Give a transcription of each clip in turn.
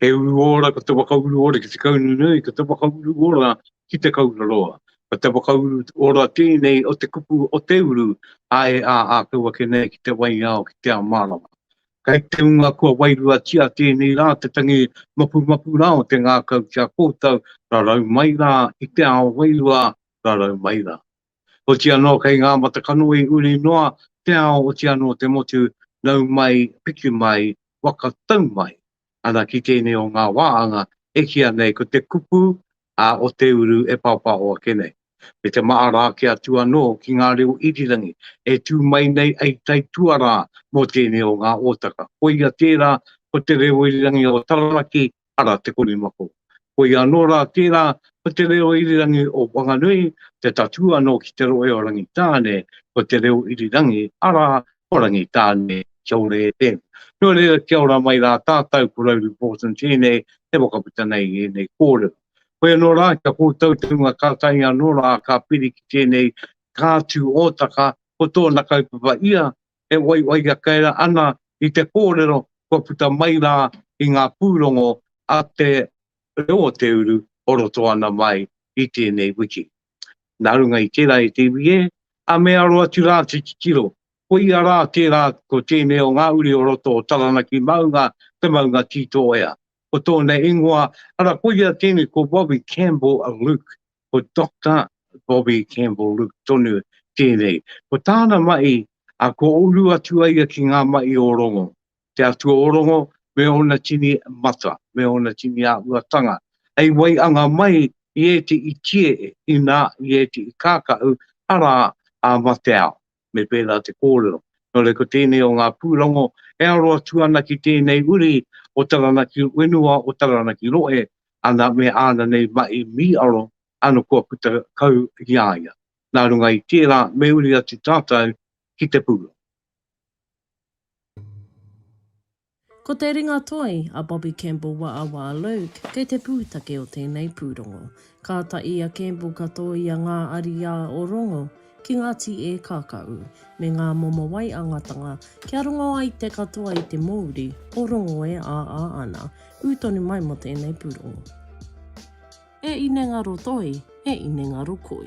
He uru ora ko te whakauru ora ki te kaunu nui, ko te whakauru ora ki te kaura roa. Ko te whakauru ora tēnei o te kupu o te uru a e a a kau ake nei ki te waiao ki te ao mārama. Kai te unga kua wairuatia tēnei rā te tangi mapumapu rā o te ngākau ki a koutou, rarau mai rā i te ao wairua, rarau mai rā. Oti anō kei ngā matakanoe uri noa te ao oti anō te motu nau mai, piki mai, waka tau mai. Ana ki tēnei o ngā wāanga e kīa nei ko te kupu a o te uru e pāpāho ake nei. Me te maara ake atu anō ki ngā reo irirangi e tū mai nei ei tae tuarā mō tēnei o ngā ōtaka. Koia tērā ko te reo irirangi o Taranaki ara te korimako. Koia anō rā tērā ko te reo irirangi o Whanganui, te tatū anō ki te rohe o Rangitāne, ko te reo irirangi, arā, ko Rangitāne, kia ora e te. Nō reira, kia ora mai rā tātou, ko Rauru Porson tēnei e whakaputa nei i ēnei kōrero. Hoi anō rā, kia kōtou te hunga ka tae anō rā, ka piri ki tēnei kātū ōtaka, ko tōna kaupapa ia, e waiwaiha kē ana i te kōrero kua puta mai rā i ngā pūrongo a te reo o te uru o roto ana mai i tēnei wiki. Nā runga i tērā e te iwi ē, a me aro atu rā te titiro, koia rā tērā ko tēnei o ngā uri o roto o Taranaki maunga te maunga Tītoea, ko tōna ingoa, ara koia tēnei ko Robbie Campbell Luke, ko Doctor Bobby Campbell Luke tonu tēnei. Ko tāna mahi, a kua uru atu a ia ki ngā mahi o Rongo, te atua o Rongo me ōna tini mata, me ōna tini āhuatanga, hei waianga mai i ētehi tie inā i ētehi kākahu, arā, a Mateao. me pērā te kōrero. Nō reira, ko tēnei o ngā pūrongo e aro atu ana ki tēnei uri o Taranaki Whenua, o Taranaki Rohe, ana me āna nei mahi mīaro, ano kua puta kau ki a ia. Nā runga i tērā, me uri atu tātou ki te pūrongo. Ko te ringatoi a Bobby Campbell Waawaa Luke kei te pūtake o tēnei pūrongo. Kāta i a Campbell ka tōia ngā ariā o Rongo ki ngā tī e kākaū, me ngā momo waiangatanga kia rongo ai te katoa i te mōuri o Rongo e āā ana, ū tonu mai mō tēnei pūrongo. E inengaro toi, e inengaro koi.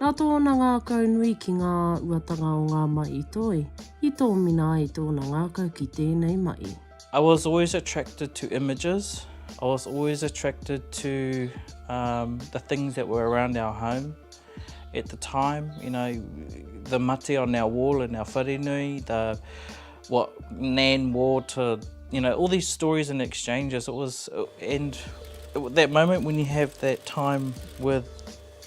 Nā tōna ngākau nui ki ngā uatanga o ngā mahi toi, i tōmina ai tōna ngākau ki tēnei mahi. I was always attracted to images, I was always attracted to um, the things that were around our home at the time, you know, the mate on our wall in our wharenui, the what Nan wore to, you know, all these stories and exchanges. It was, and that moment when you have that time with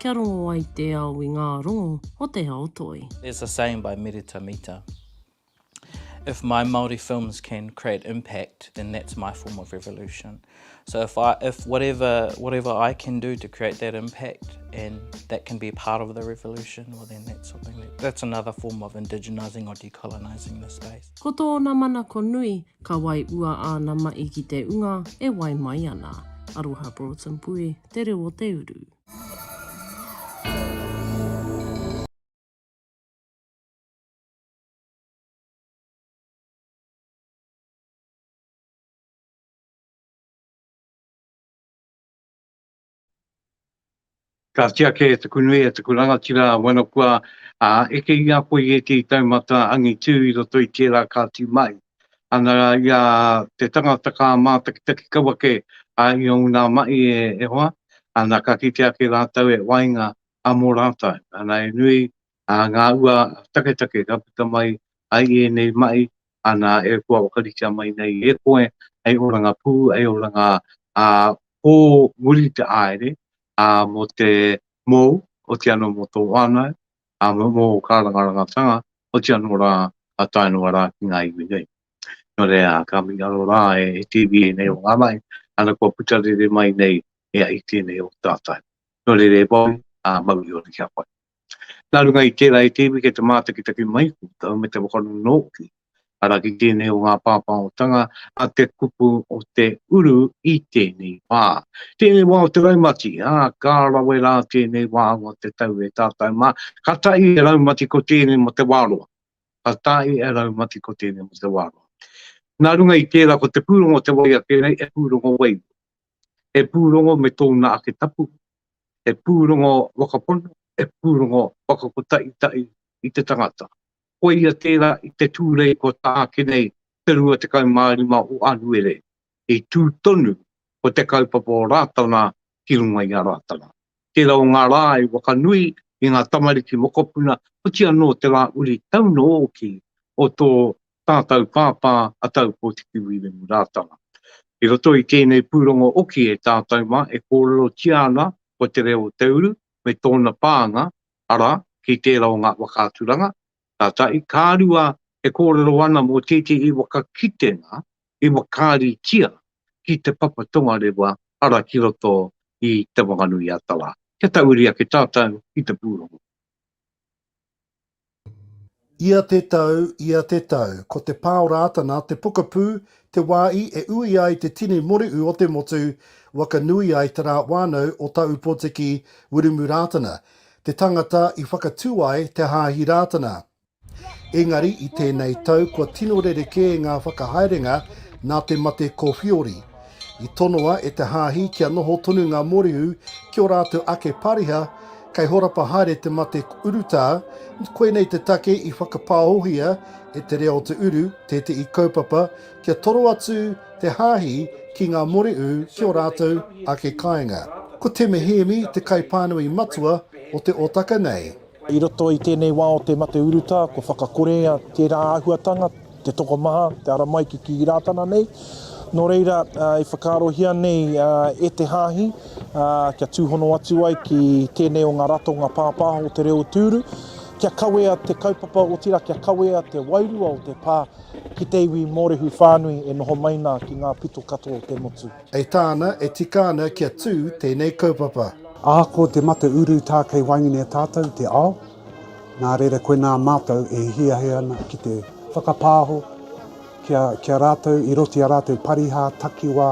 Kia rongo ai te ao i ngā rongo o te ao toi. There's a saying by Merita Mita, If my Māori films can create impact, then that's my form of revolution. So if I, if whatever, whatever I can do to create that impact and that can be part of the revolution, well then that's something, that's another form of indigenising or decolonising the space. Ko tōna manako nui, ka wai ua āna maʻi ki te unga e wai mai ana. Aroha Broughton Pui, Te Reo o te Uru. Ka tiake e taku nui, e taku rangatira wano kua eke i a koe i ētehi taumata angitu i roto i tērā ka tū mai. Ana rā i a te tangata ka mātakitaki kau ake a ia o ngā mahi e hoa, ana, ka kite ake rātou e waenga a mō rātou. Ana, he nui ngā ua taketake ka puta mai ai i ēnei mahi, ana, e kua whakaritea mai nei e koe hei oranga pū, hei oranga pō muri te āere, ā, mō te mōu, oti anō mō tō whānau, ā, mō ō kārangarangatanga, oti anō rā, ka tae noa rā ki ngā iwi nei. Nō reira, ka mihi anō rā e Tīvi ēnei o ngā rahi, ana kua puta rere mai nei e ai tēnei o tātou. Nō reira e Boy, ā, mau i ōna kia whai. Nā runga i tērā e Tīvi kei te mātakitaki mai koutou me te whakanono hoki Ara ki tēnei o ngā pāpāhotanga a te kupu o te uru i tēnei wā. Tēnei wā o te raumati, ā, ka rawe rā tēnei wā o te tau e tātau mā. Ka tae e raumati ko tēnei mo te wā roa. Ka tae e raumati ko tēnei mo te wā roa. Nā runga i tērā ko te pūrongo o te wai ake nei he pūrongo wairua. He pūrongo me tōna ake tapu, he pūrongo whakapono, he pūrongo whakakotaʻitaʻi i te tangata. Koia tērā i te tūrei kua tāke nei te 25 o Anuere, i tū tonu ko te kaupapa o Rātana ki runga i a Rātana. Tērā o ngā rā i wakanui i ngā tamariki mokopuna, oti anō te rā uri taunō ōki o tō tātau pāpā a Taupōtiki Wīremu Rātana. I roto i tēnei pūrongo oki e tātau mā e kōrerotia ana ko Te Reo o Te Uru me tōna pānga arā, ki tērā o ngā whakaaturanga, tātai, ka rua e kōrero ana mō tētehi waka kitenga i whakaaritia ki te papa tongarewa, arā, ki roto i Te Whanganui-a-Tara, kia tauiri ake tātou i te pūrongo. Ia te tau, ia te tau. Ko te pā o Rātana, te pokapū, te wāhi e ui ai te tini moriu o te motu, waka nui ai te rā whānau o Tāupotiki, Wiremu Rātana, te tangata i whakatū ai te Hāhi Rātana. Engari i tēnei tau kua tino rerekē ngā whakahaerenga nā te mate ko Whiori. I tonoa e te hāhi kia noho tonu ngā mōrehu ki ō rātou ake pāriha, kei horapa haere te mate urutā, koinei te take i whakapāohia e te rea o te uru tētehi kaupapa kia toro atu te hāhi ki ngā mōrehu ki ō rātou ake kāinga. Ko Teme Hēmi te kaipānui matua o te otaka nei. I roto i tēnei wā o te mate urutā, kua whakakorea tērā āhuatanga, te tokomaha, te ara mai ki kī Rātana nei. Nō reira, i whakaarohia nei e te Hāhi kia tūhono atu ai ki tēnei o ngā ratonga pāpāho o te reo tūru, kia kawea te kaupapa, otirā kia kawea te wairua o te pā ki te iwi Mōrehu whānui e noho mai nā ki ngā pito katoa o te motu. E tāna, e tika ana kia tū tēnei kaupapa. Ahako te mate uru tā kei waenganui a tātou te ao, nā reira koinā mātou e hiahia ana ki te whakapāho kia kia rātou i roti a rātou parihā takiwā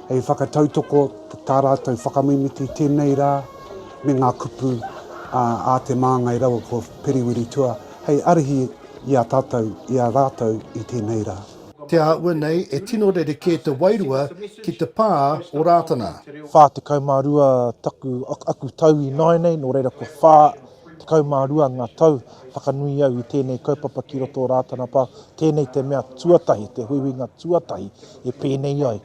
hei whakatautoko tā rātou whakamimiti tēnei rā me ngā kupu a a Te Māngai raua ko Periwiritua hei arihi i a tātou i a rātou i tēnei rā. Te āhua nei e tino rerekē te wairua ki te pā o Rātana. Whā tekau mā rua taku, aku tau i nāianei, nō reira kua whā tekau mā rua ngā tau whakanui au i tēnei kaupapa ki roto o Rātana Pā, tēnei te mea tuatahi, te huihuinga tuatahi e pēnei ai.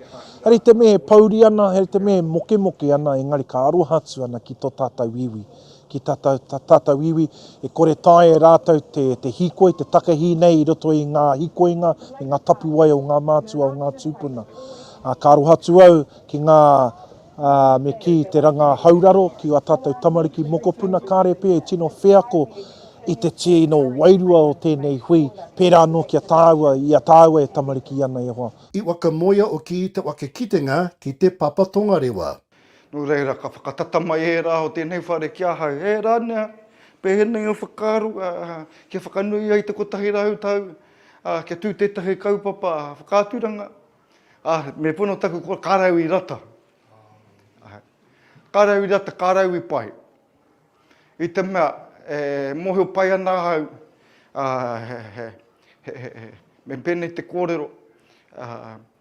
Hari te mea e pouri ana, hari te mea e mokemoke ana, engari ka aroha atu ana ki tō tātou iwi, ki tā tātou iwi, e kore taea e rātou te hīkoi, te takahī nei i roto i ngā hīkoinga me ngā tapuwae o ngā mātua, o ngā tūpuna. Ka aroha atu au ki ngā, me kī, te rangahau raro ki ā tātou tamariki mokopuna, kāre pea i tino wheako i te tino wairua o tēnei hui, pērā anō ki a tāua, i a tāua e tamariki ana e hoa. I whakamoea o Kī te whakakitenga ki te Papa Tongarewa. Nō reira, ka whakatata mai ērā o tēnei whare ki ahau, E Rania, pēnei o whakaaro, kia whakanui ai te kotahi rau tau, kia tū tētahi kaupapa whakaaturanga, me pono taku kōrero, ka rau i rata. Ka rau i rata, ka rau i pai. I te mea, e mōhio pai ana ahau, me pēnei te kōrero,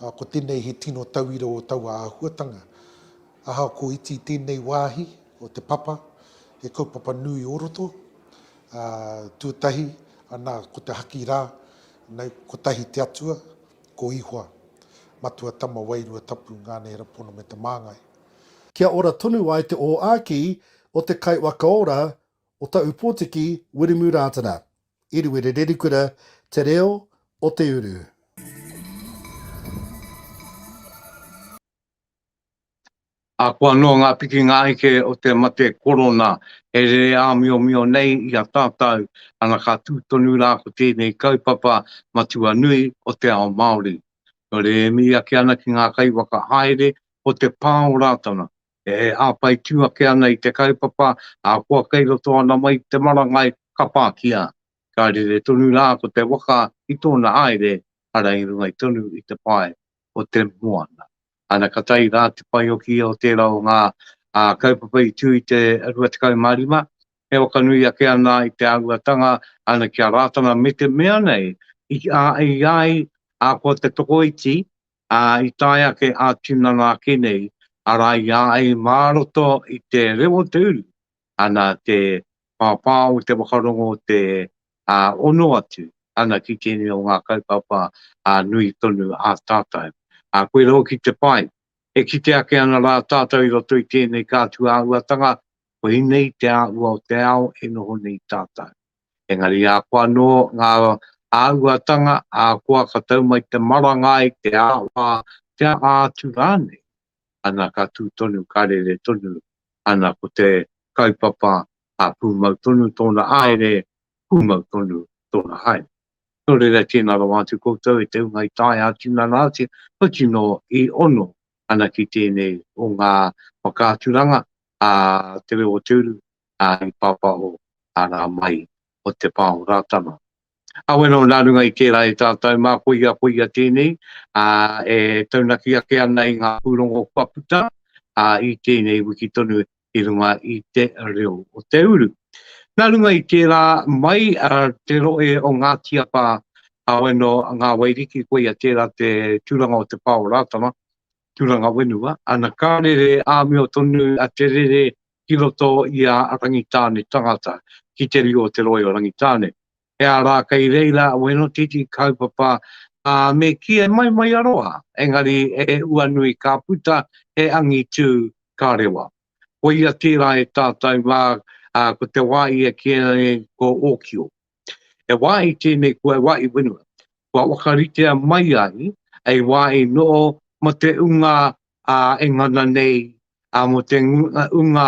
ā, ko tēnei he tino tauira o taua āhuatanga. Ahakoa iti i tēnei wāhi o te papa, he kaupapa nui o roto, ā, tuatahi, anā, ko te haki rā, nau, kotahi te atua, ko Ihoa, matua tama wairua tapu ngā neera pono me te māngai. Kia ora tonu ai te ōāki o te Kaiwakaora o Taupōtiki, Wiremu Rātana. Eruere Rerikura Te Reo o te Uru. Ahakoa noa ngā piki ngā eke o te mate korona e rere āmiomio nei i a tātau, ana ka tū tonu rā ko tēnei kaupapa matua nui o te ao Māori. Nō reira e miri ake ana ki ngā kaiwhakahaere o te pā o Rātana, E hāpai tū ake ana i te kaupapa, ahakoa kei roto ana mai i te marangai, ka pākia. Ka rere tonu rā ko te waka i tōna haere, arā i runga tonu i te pae o te moana. Ana ka tae rā te paeoki o tērā o ngā kaupapa i tū i te 25, e waka nui ake ana i te āhuatanga ana ki a Rātana me te mea nei i ai ahakoa te tokoiti ā, i tae ake ā-tinana ake nei, arā, i a ai mā roto i te reo o te uru, ana te pāpā o te whakarongo te ono atu, ana ki tēnei o ngā kaupapa nui tonu a tātou. Ā, koirā hoki te pai, e kite ake ana rā tātou i roto i tēnei kātua āhuatanga, koinei te āhua o te ao e noho nei tātou. Engari a koa anō ngā āhuatanga a koa ka tau mai te maranga i te āhua, te aha atu rānei, ana ka tū tonu, ka rere tonu, ana ko te kaupapa a pūmau tonu tōna haere, pūmau tonu tōna haere. Nō reira tēnā rawa atu koutou e te hunga i taea a tinana atu, kua tino i ono ana ki tēnei o ngā whakaaturanga a Te Reo o Te Uru, ā, i pāpāho a rā mai o te pā o Rātana. Kawe nō nā runga i tērā e tātou mā koia, koia tēnei, ā, e taunaki ake ana i ngā pūrongo kua puta, ā, i tēnei wiki tonu i runga i te reo o te uru. Nā runga i tērā mai te rohe o Ngāti Apa, kawe nō Ngā Wairiki, koia tērā te tūranga o te pā o Rātana, tūranga whenua, ana ka rere āmio tonu te rere ki roto i a Rangitāne tangata, ki te rio o Te Roi o Rangitāne. He a rā kei reira a Wēnotiti ka haupapa, ā, me kī e mai mai aroha, engari e ua nui ka puta he angitu ka rewa. Koia tērā e tātau mā, ā, ko te wā ia kīia nei ko Ōkio. He wāhi tēnei kua wāhi whenua, kua whakaritea mai ai hei wāhi noho mō te ūnga e ngana nei, mō te ūnga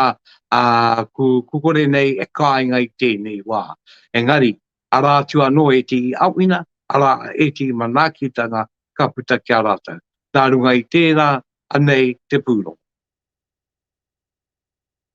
kukore nei e kāinga i tēnei wā. Engari, arā atu anō ētehi āwhina, arā ētehi manaakitanga ka puta ki a rātou. Nā runga i tērā, anei te pūrongo.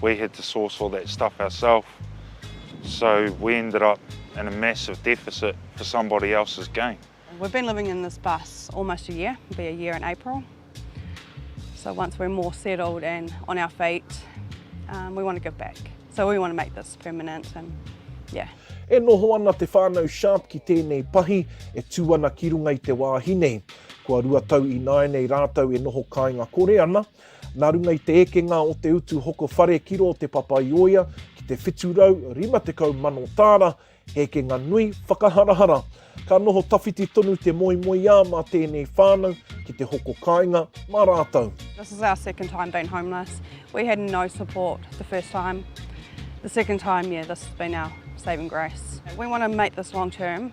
We had to source all that stuff ourself so we ended up in a massive deficit for somebody else's gain. We've been living in this bus almost a year, it'll be a year in April. So once we're more settled and on our feet, um, we want to give back. So we want to make this permanent and yeah. E noho ana te whānau Sharp ki tēnei pahi e tū ana ki runga i te wāhi nei. Kua rua tau ināianei rātou e noho kāinga kore ana, Nā runga i te ekenga o te utu hoko whare ki rō Te Papaioea ki te 750 mano tāra, he ekenga nui whakaharahara. Ka noho tawhiti tonu te moemoeā mā tēnei whānau ki te hoko kāinga mā rātou. This is our second time being homeless. We had no support the first time. The second time, yeah, this has been our saving grace. We want to make this long term.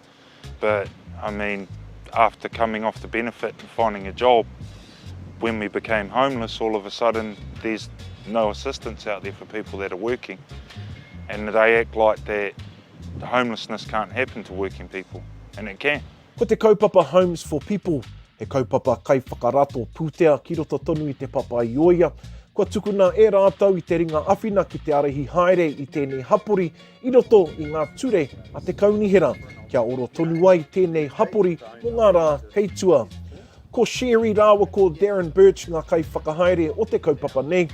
But I mean after coming off the benefit and finding a job when we became homeless all of a sudden there's no assistance out there for people that are working and they act like that homelessness can't happen to working people and it can. Ko te kaupapa Homes for People he kaupapa kaiwhakarato pūtea ki roto tonu i Te Papa-i-ōia, kua tukuna e rātou i te ringa awhina ki te arihi haere i tēnei hapori i roto i ngā ture a te kaunihera kia oro tonu ai tēnei hapori mō ngā rā kei tua. Ko Sherry rāua ko Darren Birch ngā kaiwhakahaere o te kaupapa nei,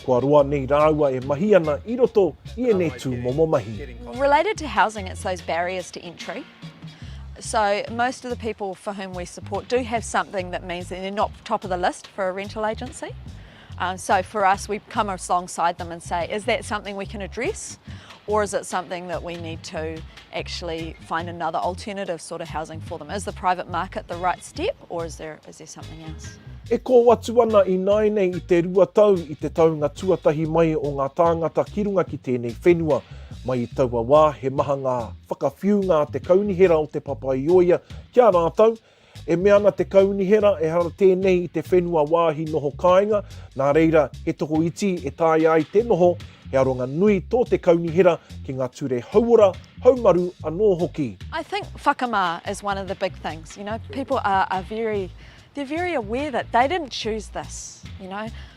kua roa nei rāua e mahi ana i roto i ēnei tūmomo mahi. Related to housing, it's those barriers to entry. So most of the people for whom we support do have something that means that they're not top of the list for a rental agency. Um, so for us, we come alongside them and say, is that something we can address? Or is it something that we need to actually find another alternative sort of housing for them? Is the private market the right step or is there, is there something else? E kō atu ana i nāinei i te rua tau i te taunga tuatahi mai o ngā tāngata ki runga ki tēnei whenua. Mai i taua wā, he maha ngā whakawhiunga a te kaunihera o Te Papa-i-ōia ki a rātou, E mea ana te Kaunihera ehara tēnei i te whenua wāhi noho kāinga, nā reira he tokoiti e taea ai te noho, he aronga nui tō te Kaunihera ki ngā ture hauora, haumaru anō hoki. I think whakamā is one of the big things, you know, people are very, they're very aware that they didn't choose this, you know.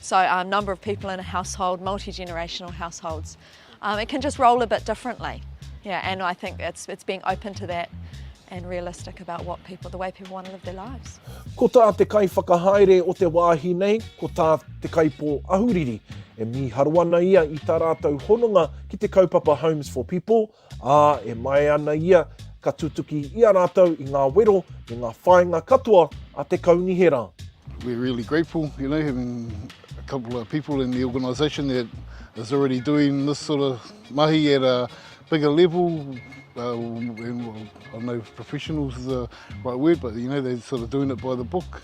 So a um, number of people in a household, multi-generational households, um, it can just roll a bit differently. Yeah, and I think it's, it's being open to that and realistic about what people, the way people want to live their lives. Ko tā te kai whakahaere o te wāhi nei, ko tā te kaipō ahuriri. E mīharo ana ia i tā rātou hononga ki te kaupapa Homes for People, Ā, e maea ana ia, ka tutuki i a rātou i ngā wero me ngā whāinga katoa a te Kaunihera. We're really grateful, you know, having a couple of people in the organisation that is already doing this sort of mahi at a bigger level, uh, and well, I know professionals is the right word, but you know, they're sort of doing it by the book.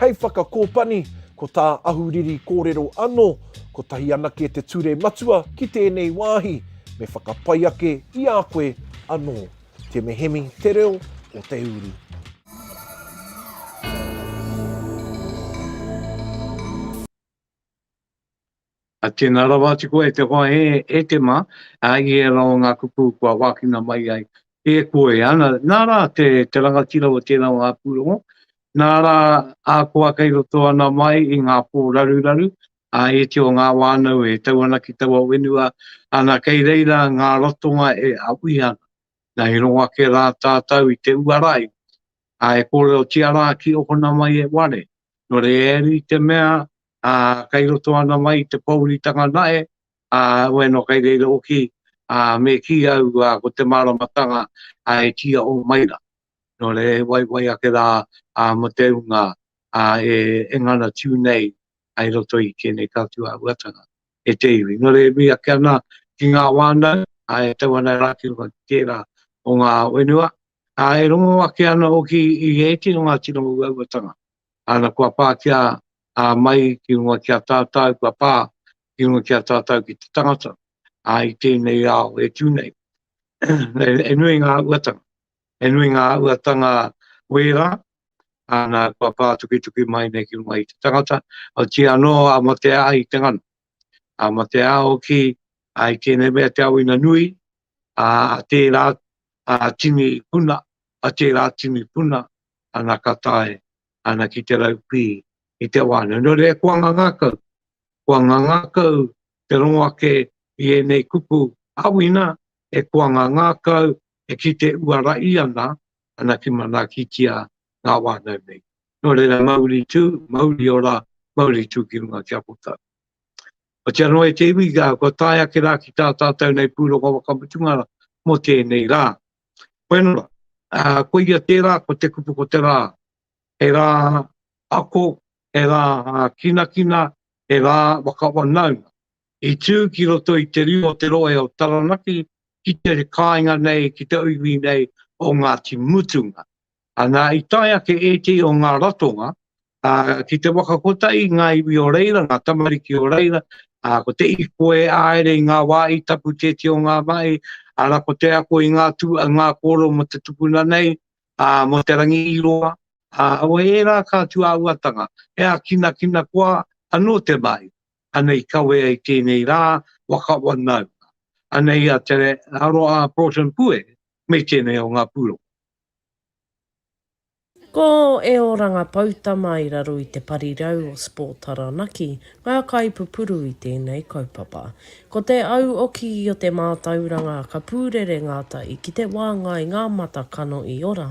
Hei whakakōpani, ko tā Ahuriri kōrero anō, kotahi anake te ture matua ki tēnei wāhi, me whakapai ake i a koe anō. Te Mehemi, Te Reo o Te Uru. A tēnā rawa atu koe te hoa hē e te mā, ā, i ērā o ngā kupu kua wākina mai ai e koe. Ana, nā rā te, te rangatira o tērā o ngā pūrongo, nā rā ā koa kei roto ana mai i ngā pō raruraru, ā, e te o ngā wānau e tau ana ki taua whenua, ana, kei reira ngā ratonga e aui ana. Na, he rongo ake rā tātau i te uara ai, a e kōrerotia rā ki ōkona mai e ware, nō reira i te mea a kai roto ana mai te pouritanga nae, a wai no kai reira oki, a me ki au a ko te maramatanga a e tia o mai ra. No re e waiwai ake ra a mo te unga a e e ngana tiu nei ai roto i ke nei kautu a uatanga e te iwi. No re e mi ake ana ki nga wānau a e tau ana ra ki runga ki tera o nga wenua, Ā, e rongo ake ana hoki i ētehi o ngā tino uauatanga, ā, na kua pā ki a, a, mai ki mua ki a tātou, kua pā ki mua ki a tātou ki te tangata, ā, i tēnei ao e tū nei. e nui ngā uatanga, e nui ngā uatanga wērā, ā, na kua pā tukituki mai nei ki runga i te tangata, otiia anō a matea ai te ngana, a matea hoki, ā, i tēnei mea te ao ina nui, ā, a tērā, a tini puna, a tera tini puna, ana ka tae ana ki te rau pi i te wa nei. No reira kua ngangakau, kua ngangakau te rongo ake i enei kupu awina e kua ngangakau e kite uarai ana, ana ki manaakitia nga wa nau nei. No reira mauri tu, mauri ora, mauri tu ki runga ki a koutou. Otiano noa e te iwi, kua tae ake rā ki tā tātou nei pūrongo whakamutunga mō tēnei rā. Whenua, koia tērā ko te kupu ko te rā, he rā ako, he rā kinakina, he rā whakawanaunga. I tū ki roto i te riri o te rohe o Taranaki ki te kāinga nei, ki te iwi nei o Ngāti Mutunga. Ana i tae ake ētehi o ngā ratonga ki te waka kotahi i ngā iwi o reira, ngā tamariki o reira, ko te ipo e āere i ngā wā i tapu tētehi o ngā mahi, ana ko te ako i ngā tū, ngā kōrero mō te tupuna nei, mō Te Rangi i roa, o ērā kātua auatanga, he ākinakina koa anō te mahi, ana i kawe ai tēnei rā, waka wanaunga. Ana i a Te Aroha Broughton Pue, me tēnei o ngā pūrongo. Ko Eo Rangapoutama i raro i te parirau o Sport Taranaki ngā kaipupuru i tēnei kaupapa. Ko te au oki o te mātauranga ka pūrere ngātahi ki te wānga i ngā mata kano i ora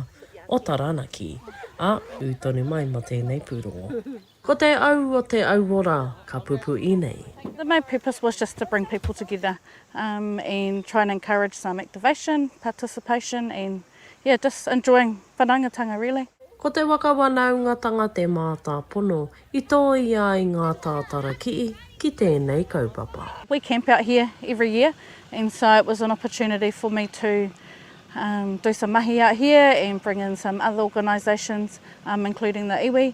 o Taranaki, ā, ū tonu mai mō tēnei pūrongo. Ko te au o te auora ka pupu i nei. The main purpose was just to bring people together and try and encourage some activation, participation and yeah just enjoying whanaungatanga really. Ko te waka wanaungatanga te mātāpono i tōia ai ngā tātara kii ki tēnei kaupapa. We camp out here every year and so it was an opportunity for me to do some mahi out here and bring in some other organisations including the iwi.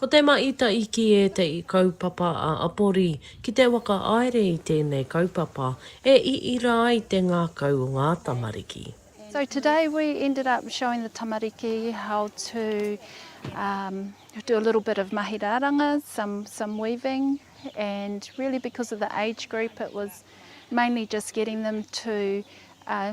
Ko Te Maita i kī e te i kaupapa a Apori ki te whakahaere i tēnei kaupapa e iira ai te ngākau o ngā tamariki. So today we ended up showing the tamariki how to um do a little bit of mahi raranga, some some weaving and really because of the age group it was mainly just getting them to uh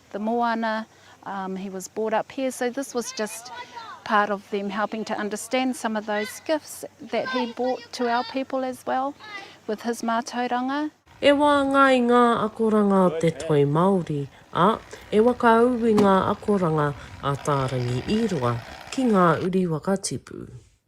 the moana, um, he was brought up here, so this was just part of them helping to understand some of those gifts that he brought to our people as well with his mātauranga. E waanga ai ngā akoranga o te toi Māori, ā, e wakaū i ngā akoranga a Tārangi Īroa ki ngā uri whakatipu.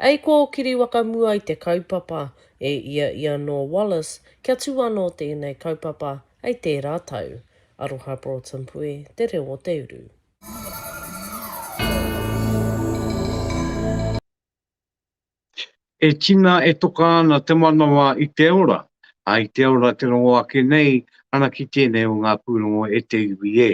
Ei kōkiri wakamua i te kaupapa, e ia i anō Wallace kia tū anō tēnei kaupapa hei tērā tau. Aroha Broughton Puē, Te Reo o te Uru. E tina e toka ana te manawa i te ora, a i te ora te rongo ake nei ana ki tēnei o ngā pūrongo e te iwi e.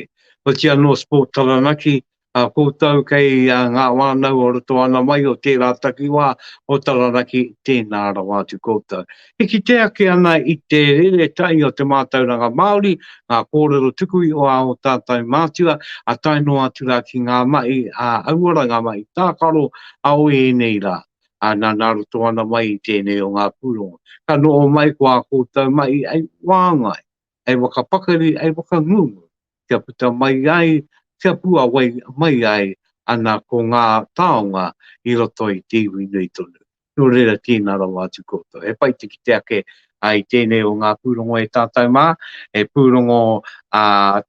Otianō Sport Taranaki a koutou kei ngā whānau o roto ana mai o tērā takiwā o Taranaki, tēnā rawa atu koutou. E kite ake ana i te rere tahi o te mātauranga Māori, ngā kōrero tuku iho a ō tātou mātua, a tae noa atu rā ki ngā mahi a hauora, ngā mahi tākaro a o ēnei rā, a nana roto ana mai i tēnei o ngā pūrongo. Ka noho mai ko ā koutou mahi hei whāngai. hei whakapakari, hei whakangungu, kia puta mai ai, kia puawai mai ai ana ko ngā taonga i roto i te iwi nui tonu. Nō reira, tēnā rawa atu koutou. He pai te kite ake i tēnei o ngā pūrongo e tātou mā, he pūrongo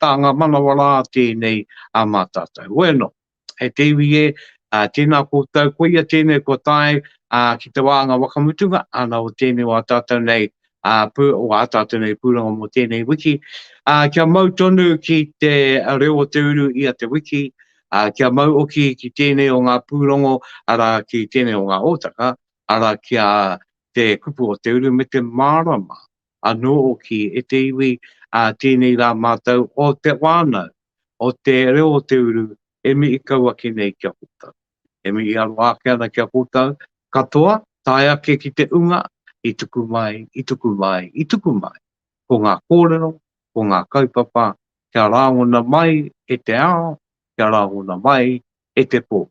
tānga manawa rā tēnei mā tātou. Bueno. Hei te iwi e, tēnā koutou, koia tēnei kua tae ki te wā anga whakamutunga, ana o tēnei o a tātou nei, o a tātou nei pūrongo mō tēnei wiki. Kia mau tonu ki te reo o te uru ia te wiki, kia mau hoki ki tēnei o ngā pūrongo, arā, ki tēnei o ngā hōtaka, arā, ki a te kupu o te uru me te mārama. anō hoki e te iwi ā tēnei rā mātou o te whānau, o te reo o te uru e mihi kau ake nei ki a koutou. E mihi aroha ake ana ki a koutou katoa, tae ake ki te unga i tuku mai, i tuku mai, i tuku mai. Ko ngā kōrero, ko ngā kaupapa kia rāngona mai e te ao, kia rāngona mai e te pō.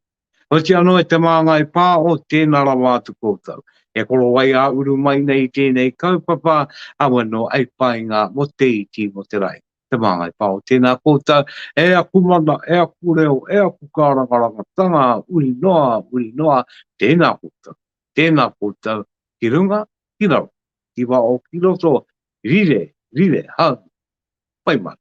Hoki anō e te māngai pā o tēnā rawa atu kōtau, e korowai ā-uru mai nei i tēnei kaupapa awa nō Aipainga mō te iti, mō te rahi. Te māngai pā o tēnā kōtau, e aku mana, e aku reo, e aku kārangarangatanga, uri noa, uri noa, tēnā kōtau, tēnā kōtau, ki runga, ki raro, ki waho, ki roto, rire, rire, haumi, whai mana.